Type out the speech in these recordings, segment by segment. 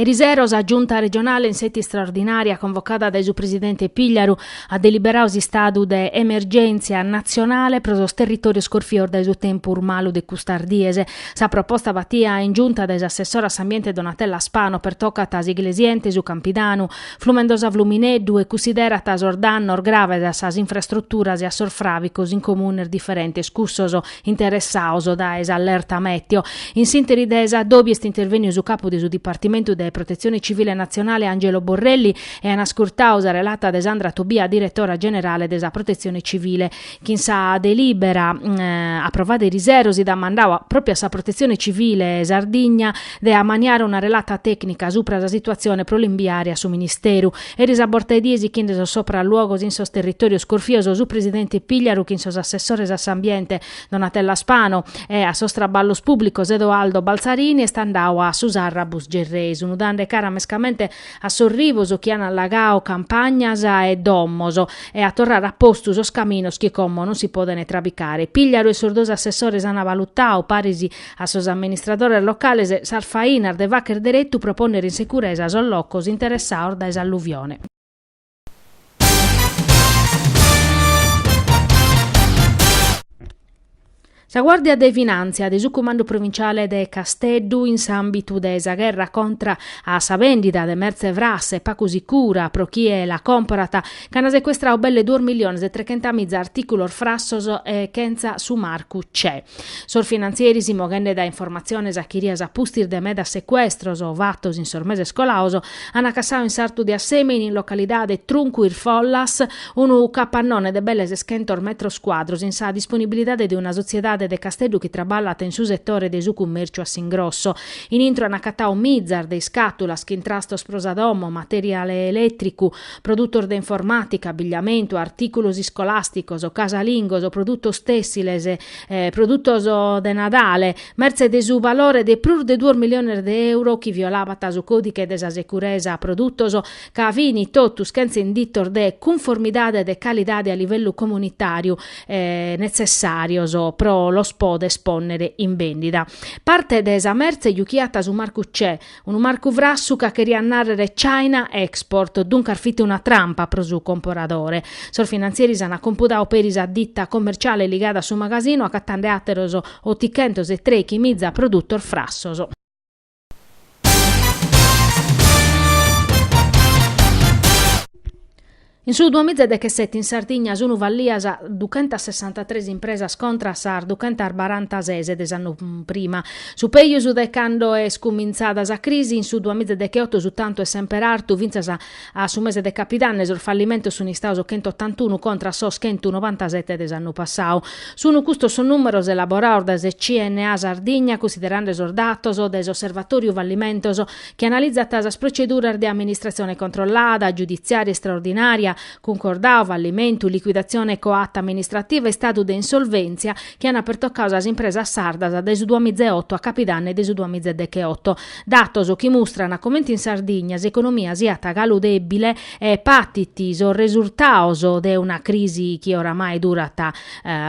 Erisero sa Giunta regionale in sètia istraordinària convocada dae su presidente Pigliaru at deliberadu s'istadu de emergèntzia natzionale pro sos territòrios corfios dae su tempus malu de custas dies. Sa proposta batida in Giunta dae s'assessora a s'ambiente Donatella Spano pertocat s'Iglesiente, su Campidanu, Flumendosa Flumineddu e cunsiderat sos dannos graves a sas infrastruturas e a sos fràvicos in comunes diferentes cussos interessados dae s'allerta mèteo. In s'ìnteri de s'addòbiu est intervèniu su capu de su Dipartimentu de Protetzione Tzivile Natzionale Angelo Borrelli e an ascurtadu sa relata de Sandra Tobia diretora generale de sa Protetzione Tzivile chin sa delìbera aprovada erisero si dat mandadu pròpiu a sa Protetzione Tzivile Sardigna de amaniare una relata tècnica supra sa situatzione pro l'imbiare a su Ministeru Eris a borta 'e die sichinde sos sopraluogos in sos territòrios corfios su presidente Pigliaru chin sos assessores a s'ambiente Donatella Spano e a sos traballos pùblicos Edoardo Balzarini est andadu a su Sarrabus Gerrei sunu dande cara mescamente a sos rivos chi an allagadu campagnas e domos e a torrare a postu sos caminos chi como non si podent trabicare. Pigliaru e sos duos assessores an valutadu paris A sos amministradores locales sas fainas de fagher deretu pro pònnere in securesa sos locos interessados dae s'alluvione. Sa Guàrdia de Finàntzia de su Cumandu Provinciale de Casteddu in s'àmbitu de sa gherra contra a sa vèndida de mertze frassa e pagu sicura pro chie la comporat C'ana secuestrau belle duos milliones e trechentamìza artìculos frassos e chentza su marcu CE. Sos finantzieris, moghende dae informatziones achirias a pustis de medas secuestros fatos in sos meses colados, ant cassadu in sartu de Assemini, in localidade Truncu Is Follas, unu capannone de belle seschentos metros cuadros in sa disponibilidade de una sotziedade de Casteddu chi traballat in su setore de su cummèrciu a s'ingrosso. In intro ant acatadu mizas de iscàtulas, chin trastos pro sa domo, materiale elètricu, Produtos de informàtica, abbigliamentu, artìculos iscolàsticos, casalingos, produtos tèssiles, produtos de Nadale, mertze de su valore de prus de duos miliones de euro chi violabat su còdighe de sa securesa produtos ca fini totus chentza inditos de cunformidade de calidade a livellu comunitàriu netzessàrios pro los poder espònnere in bèndida. Parte de sa mertze juchiat su marcu CE, Unu marcu frassu ca cheriat nàrrere China Export, duncas fit una trampa pro su comporadore. Sos finantzieris ant compudadu peri sa ditta commerciale ligada a su magasinu acatande àteros otichentos e treichimìza produtos frassos. In su duamiza dechesete in Sardigna sunu fallias duchentasessantatres impresas contra a sas duchentasbarantases de s'annu prima, su pejus de cando est cumintzada sa crisi. In su duamiza decheotu su tantu est semper artu, fintzas a su mese de capidanne sos fallimentos sun istados chentotantunu contra a sos chentunovantasete de s'annu passadu. Sunu custos sos numeros elaborados dae sa CNA Sardigna, cussiderande sos datos de s'osservatoriu fallimentos. chi analizat sas proceduras de amministratzione controllada, giuditziària istraordinària, cuncordadu, fallimentu, liquidatzione coata amministrativa e istadu de insolvèntzia, chi ant pertocadu sas impresas sardas dae su duamizaeoto a capidanne de su duamizaedegheoto. Datos chi mustrant comente in Sardigna s'economia siat galu dèbile e patit sos resurtados de una crisi chi oramai durat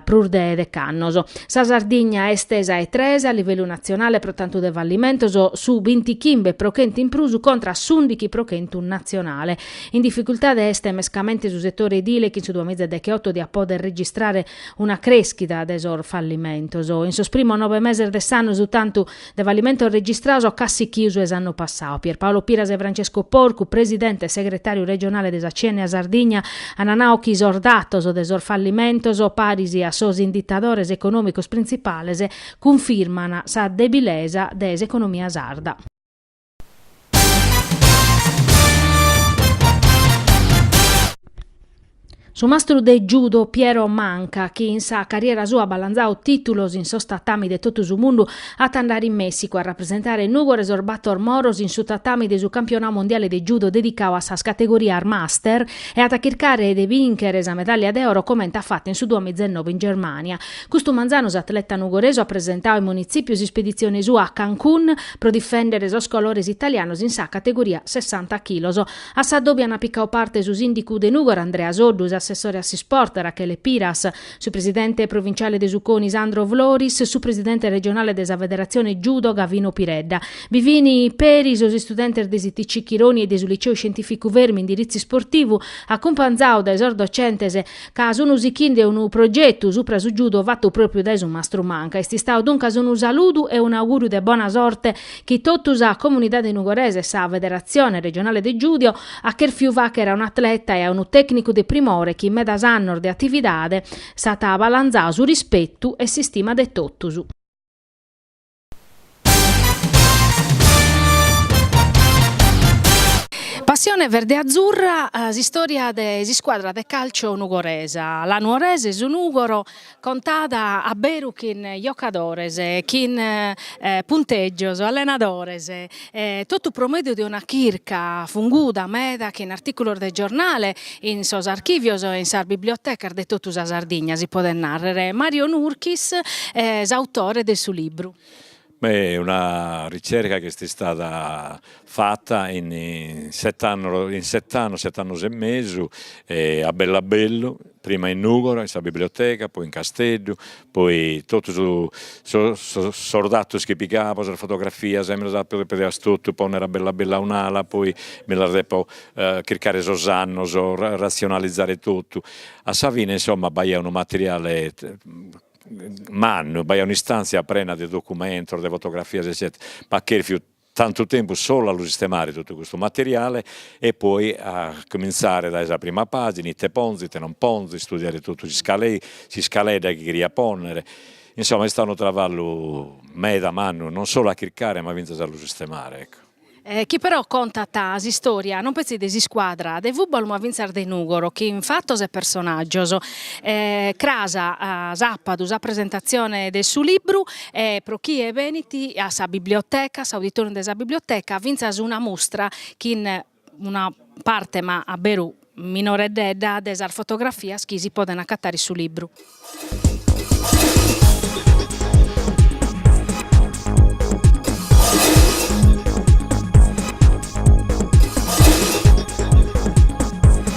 prus de dec'annos. Sa Sardigna est sa 'e tres a livellu natzionale pro tantu de fallimentos, su bintichimbe pro chentu in prus contra a s'ùndighi pro chentu natzionale. In dificultade est mescamente su setore edile chi in su duamiza decheoto diat pòdere registrare una crèschida de sos fallimentos. In sos primos nove meses de s'annu su tantu de fallimentos registrados at cussichiu su 'e s'annu passadu. Pierpaolo Piras e Francesco Porcu, presidente e segretàriu regionale de sa CNA Sardigna, ant nau chi sos datos de sos fallimentos, paris a sos inditadores econòmicos printzipales, cunfirmant sa debilesa de s'economia sarda. Su mastru de judo Piero Manca, chi in sa carriera sua at balanzadu titulos in sos tatami de totu su mundu, at a andare in Messicu a rapresentare Nùgoro e sos Bator Moros in su tatami de su Campionau Mondiale de Judo dedicau a sas categorias Master e at a chircare de bìnchere sa medàllia de oro comente at fatu in su duamiza e noe in Germània. Custu manzanu s'atleta nugoresu at presentau in Munitzipiu s'ispeditzione sua a Cancun pro difèndere sos colores italianos in sa categoria sessanta chilos. A s'addòbiu ant picau parte su sìndicu de Nùgoro Andrea Soddu, s'assessore a s'isport Rachele Piras, su presidente provinciale de su CONI Sandro Floris, su presidente regionale de sa Federatzione Judo Gavino Piredda. Bi fin peri sos istudentes de s'ITC Chironi e de su Liceu Scientìficu Fermi indiritzu isportivu, acumpanzaos dae sos docentes ca sunu sichinde unu progetu supra su judo fatu pròpriu dae su mastru Manca. Est istadu duncas unu saludu e un'augùriu de bona sorte chi totu sa comunidade nugoresa e sa Federatzione regionale de judo at cherfiu fàghere a un'atleta e a unu tècnicu de primore chi in medas annos de atividade s'at balanzadu su rispetu e s'istima de totus. Passione verde-azzurra, s'istòria de s'iscuadra de càlciu nugoresa, la Nuorese, su Nùgoro, contada a beru chin giocadores, chin puntègios, allenadores E totu pro mèdiu de una chirca funguda meda che in artìculos de giornale in sos archìvios e in sas bibliotecas de totu sa Sardigna, si podet nàrrere, Mario Nurchis, s'autore de su libru. Beh, una ricerca chi est istada fata in sete annos, in sete annos, sete annos e mesu, a bellu a bellu, prima in Nùgoro in sa biblioteca, poi in Casteddu, poi totu su sos datos chi pigabo, sas fotografias mi las apo dèpias totu pònnere a bellu a bellu a un'ala, poi mi las dèpio chircare sos annos, ratzionalizare totu, a sa fine insomma b'aiat unu materiale mannu, b'aiat un'istantzia prena de documentos, de fotografias eccetera, m'at cherfiu Tantu tempus solu a lu sistemare totu custu materiale e poi a comintzare dae sa prima pàgina, ite ponzo, ite non ponzo, istudiare totu s'iscaleta chi cherio pònnere, insoma est istadu unu travallu meda mannu, non solu a chircare ma fintzas a lu sistemare ecco. Chi però contat s'istòria non petzi de s'iscuadra de fùbalu ma fintzas de Nùgoro che in fatos e personàgios cras s'àpadu sa presentatzione de su libru E pro chie benit a sa biblioteca, a s'auditorium de sa biblioteca, fintzas una mustra chin una parte ma a beru minoreddedda de sas fotografias chi si podent accattare in su libru.